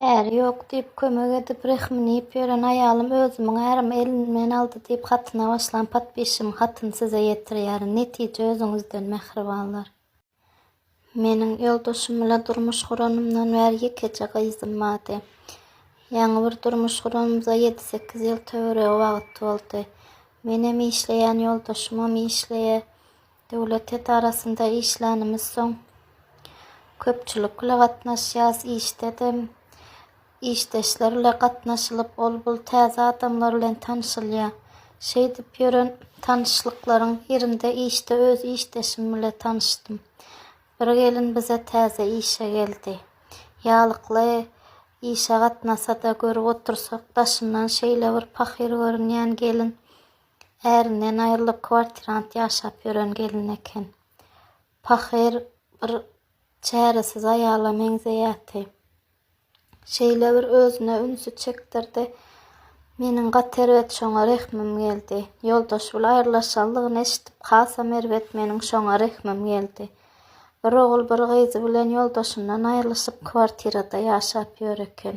Äri ýok diýip, kömek edip, rehmini iýip ýören aýalym özümiň ärimi elimden aldy diýip hatyna başlan podpisçiň hatyny size ýetirýärin. Netije özüňizden mähribanlar. Meniň ýoldaşym bilen durmuş guranymdan bäri ýekeje gyzym bardy. Ýaňy bir durmuş guranymyza ýedi-sekiz ýyl töweregi wagt boldy. Menem işleýän, ýoldaşymam işleýär. Döwlet edarasynda işlänimiz soň köpçülik bile gatnaşýas, işde-de işdeşler bile gatnaşylyp, ol-bul täze adamlar bilen tanşylýar. Şeýdip ýören tanyşlyklaryň birinde işde öz işdeşim bile tanyşdym. Bir gelin bize täze işe geldi. Ýalykly işe gatnasa-da, görüp otursak, daşyndan şeýle bir pahyr görünýän gelin Ärinden aýrylyp kwartirant ýaşap ýören gelin eken. Pahyr bir çäresiz aýala meňzeýärdi. Şeýle bir özüne ünsi çekdirdi. Meniň gaty erbet şoňa rehmim geldi. Ýoldaş bil aýrylaşanlygyny eşidip hasam erbet meniň şoňa rehmim geldi. Bir ogul bir gyzy bilen ýoldaşyndan aýrylyşyp kwartirada ýaşap ýör eken.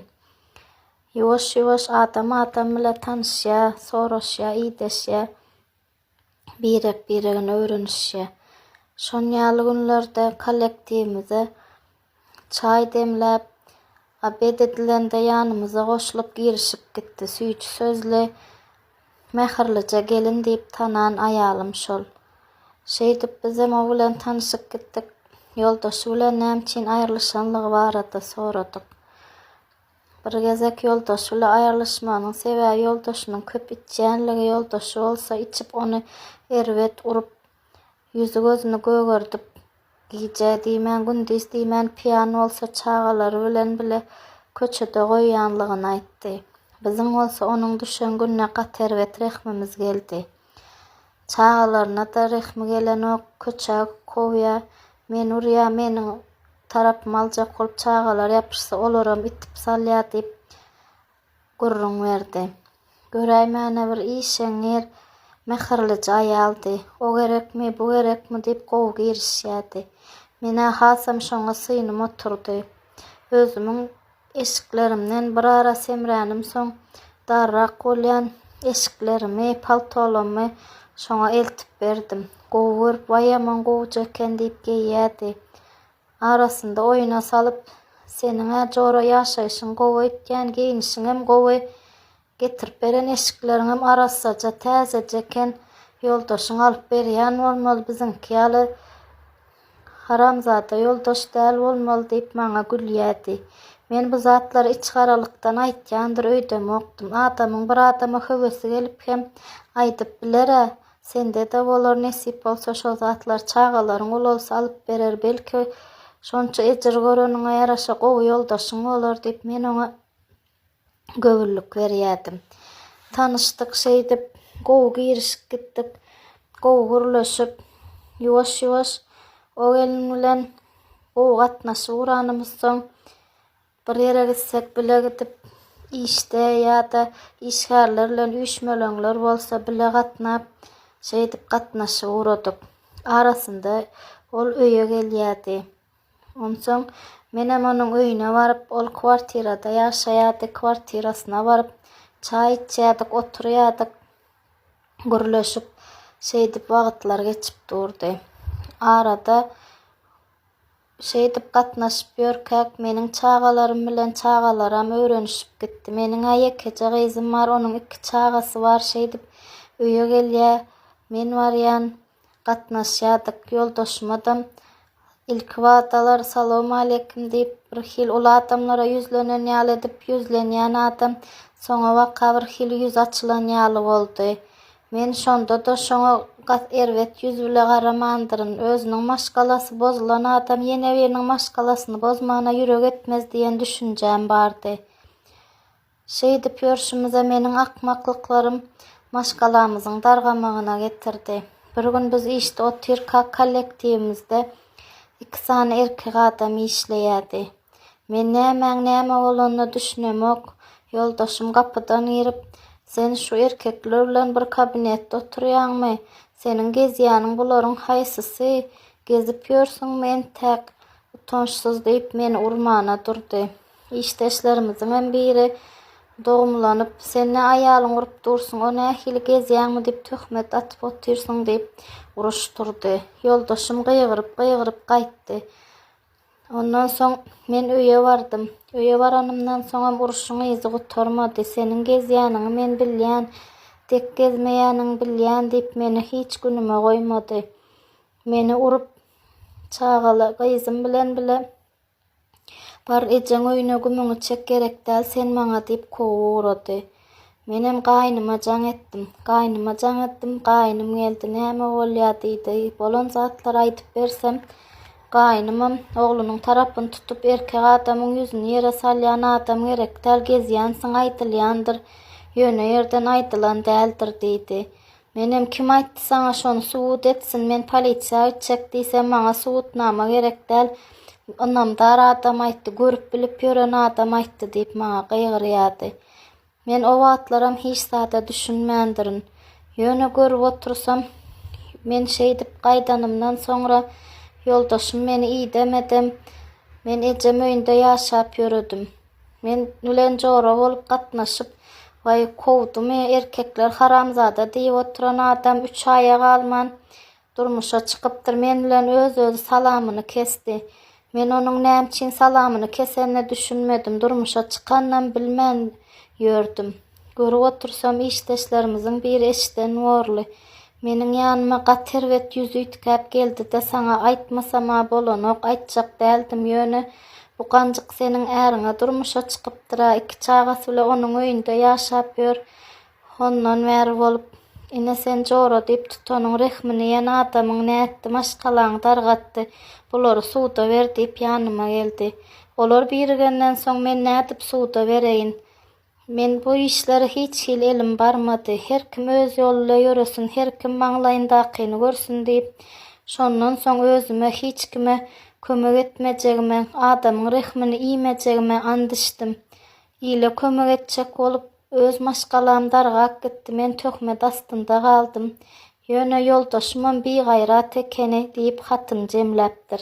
Ýuwaş-ýuwaş adam adam bile tanyşýar, soraşýar, ideşýär, birek-biregini öwrenişýär. Şon ýaly günlerde kollektiwimize çaý demläp, obed edilende ýanymyza goşulyp girişip gitdi. Süýji sözli, mähirlije gelin diýip tanan aýalym şol. Şeýdip bizem o bilen tanyşyp gitdik. Ýoldaşy bilen nämüçin aýrylyşanlygy barada soradyk. Bir gezek ýoldaşy bilen aýrylyşmagynyň sebäbi ýoldaşynyň köp içýänligi, ýoldaşy bolsa içip ony erbet urup, ýüzi-gözüni gögerdip, gije diýmän, gündiz diýmän, piýan bolsa çagalary bilen bile köçede goýýanlygyny aýtdy. Biziň bolsa onuň düşen gününe gaty erbet rehmimiz geldi. Çagalaryna-da rehmi gelenok, köçä kowýa, Men urýa, meniň tarapymy aljak bolup çagalar ýapyşsa, olaram itip salýa diýip, gürrüň berdi. Göräýmäne bir işeňňir, mähirlije aýaldy. O gerekmi, bu gerekmi diýip gowy girişýärdi. Men-ä hasam şoňa synym oturdy. Özümiň Eşiklerimden bir ara semränimsoň, darrak bolýan eşiklerimi, paltolamy şoňa eltip berdim. Gowy görüp, Waý, ýaman gowuja eken diýip geýýärdi. Arasynda oýuna salyp, Seniň-ä jora ýaşaýşyň gowy öýtýän, geýnişiňem gowy. Getirip beren eşikleriňem arassaja, täzeje eken. Ýoldaşyň alyp berýän bolmaly, biziňki ýaly haramzada ýoldaş däl bolmaly diýip, maňa gülýärdi. Men bu zatlary içigaralykdan aýtýandyr öýdemokdym. Adamyň bir adama höwesi gelip hem aýdyp biler-ä. Sende-de bolar, nesip bolsa şo zatlary çagalaryň ulalsa alyp berer, belki, şonça ejir göreniňe ýaraşa gowy ýoldaşyň bolar diýip, men oňa göwünlik berýärdim. Tanyşdyk şeýdip, gowy girişip gitdik. Gowy gürleşip, ýuwaş-ýuwaş o gelin bilen gowy gatnaşyk guranymyzsoň, bir ýere gitsek bile gidip, işde ýa-da işgärler bilen üýşmeleňler bolsa bile gatnap, şeýdip gatnaşyk guradyk. Arasynda ol öýe gelýärdi. Onsoň menem onuň öýüne baryp, ol kwartirada ýaşaýardy, kwartirasyna baryp, çaý içýärdik, oturýardyk, gürleşip, şeýdip wagtlar geçip durdy. Arada şeýdip gatnaşyp ýörkäk, meniň çagalarym bilen çagalaram öwrenişip gitdi. Meniň-ä ýekeje gyzym bar, onuň iki çagasy bar, şeýdip öýe gelýär, men barýan, gatnaşýardyk. Ýoldaşymadam ilkibadalar salowmaleýkim diýip, bir hili uly adamlara ýüzlenen ýaly edip, ýüzlenýän adam soňabaka bir hili ýüzi açylan ýaly boldy. Men şonda-da şoňa gaty erbet ýüz bile garamandyryn. Özüniň maşgalasy bozulan adam ýene biriniň maşgalasyny bozmana ýürek etmez diýen düşünjäm bardy. Şeýdip ýörşümize meniň akmaklyklarym maşgalamyzyň dargamagyna getirdi. Bir gün biz işde otyrkak kollektiwimizde iki sany erkek adam işleýärdi. Men nämäň näme bolanyna düşünemok, ýoldaşym gapydan girip, Sen şu erkekler bilen bir kabinetde oturýaňmy? Seniň gezýäniň bularyň haýsysy? Gezip ýörsüňmi entäk? Utançsyz diýip meni urmana durdy. Işdeşlerimiziňem biri dogumlanyp, Sen ne aýalyň urup dursuň, o nähili gezýäňmi diýip töhmet atyp otyrsyň diýip uruşdyrdy. Ýoldaşym gygyryp-gygyryp gaýtdy. Ondan soň men öýe bardym. Öýe baranymdan soňam uruşyň yzy gutarmady. Seniň gezýäniňi men bilýän, dek gezmeýäniňi bilýän diýip meni hiç günüme goýmady. Meni urup, çagaly gyzym bilen bile Bar, ejeň öýüne gümüňi çek, gerekdäl sen maňa diýip kowup ugrady. Menem gaýnyma jaň etdim. Gaýnyma jaň etdim, gaýnym geldi, näme bolýa diýdi. Bolan zatlary aýdyp bersem, gaýnymam oglunyň tarapyny tutup, erkek adamyň ýüzüni ýere salýan adam gerekdäl, gezýänsiň aýdylýandyr, ýöne ýerden aýdylan däldir diýdi. Menem kim aýtdy saňa şony subut etsin men polisiýa gitjek diýsem maňa subutnama gerek däl ynamdar adam aýtdy görüp bilip ýören adam aýtdy diýip maňa gygyrýardy. Men o wagtlaram hiç zada düşünmändirin. Ýöne görüp otursam men şeýdip gaýdanymdan soňra ýoldaşym meni idemedem men ejem öýünde ýaşap ýöredim. Men bilen jora bolup gatnaşyp, Waý, kowdumy, erkekler haramzada diýip oturan adam üç aýa galman, durmuşa çykypdyr. Men bilen öz-özi salamyny kesdi. Men onuň näme üçin salamyny kesenine düşünmedim. Durmuşa çykanynam bilmän ýördüm. Görüp otursam, işdeşlerimiziň biri eşden borly, Meniň ýanyma gaty erbet ýüz üýtgäp geldi-de, saňa aýtmasam-a bolanok, aýtjak däldim, ýöne bu ganjyk seniň äriňe durmuşa çykypdyr-a, iki çagasy bilen onuň öýünde ýaşap ýör hondan bäri bolup. Ine, sen jora diýip tutanyň rehmini iýen adamyň nätdi, maşgalaňy dargatdy, bulary suda ber diýip ýanyma geldi. Olar birigenden soň, men nädip suda bereýin? Men bu işlere hiç hili elim barmady. Her kim öz ýolunda ýöresin, her kim maňlaýyndakyny görsün diýip, şondan soň özüme hiç kime kömek etmejegime, adamyň rehmini iýmejegime ant içdim. Ile kömek etjek bolup, öz maşgalam dargap gitdi, men töhmet astynda galdym. Ýöne ýoldaşymam bigaýrat ekeni diýip, hatyny jemläpdir.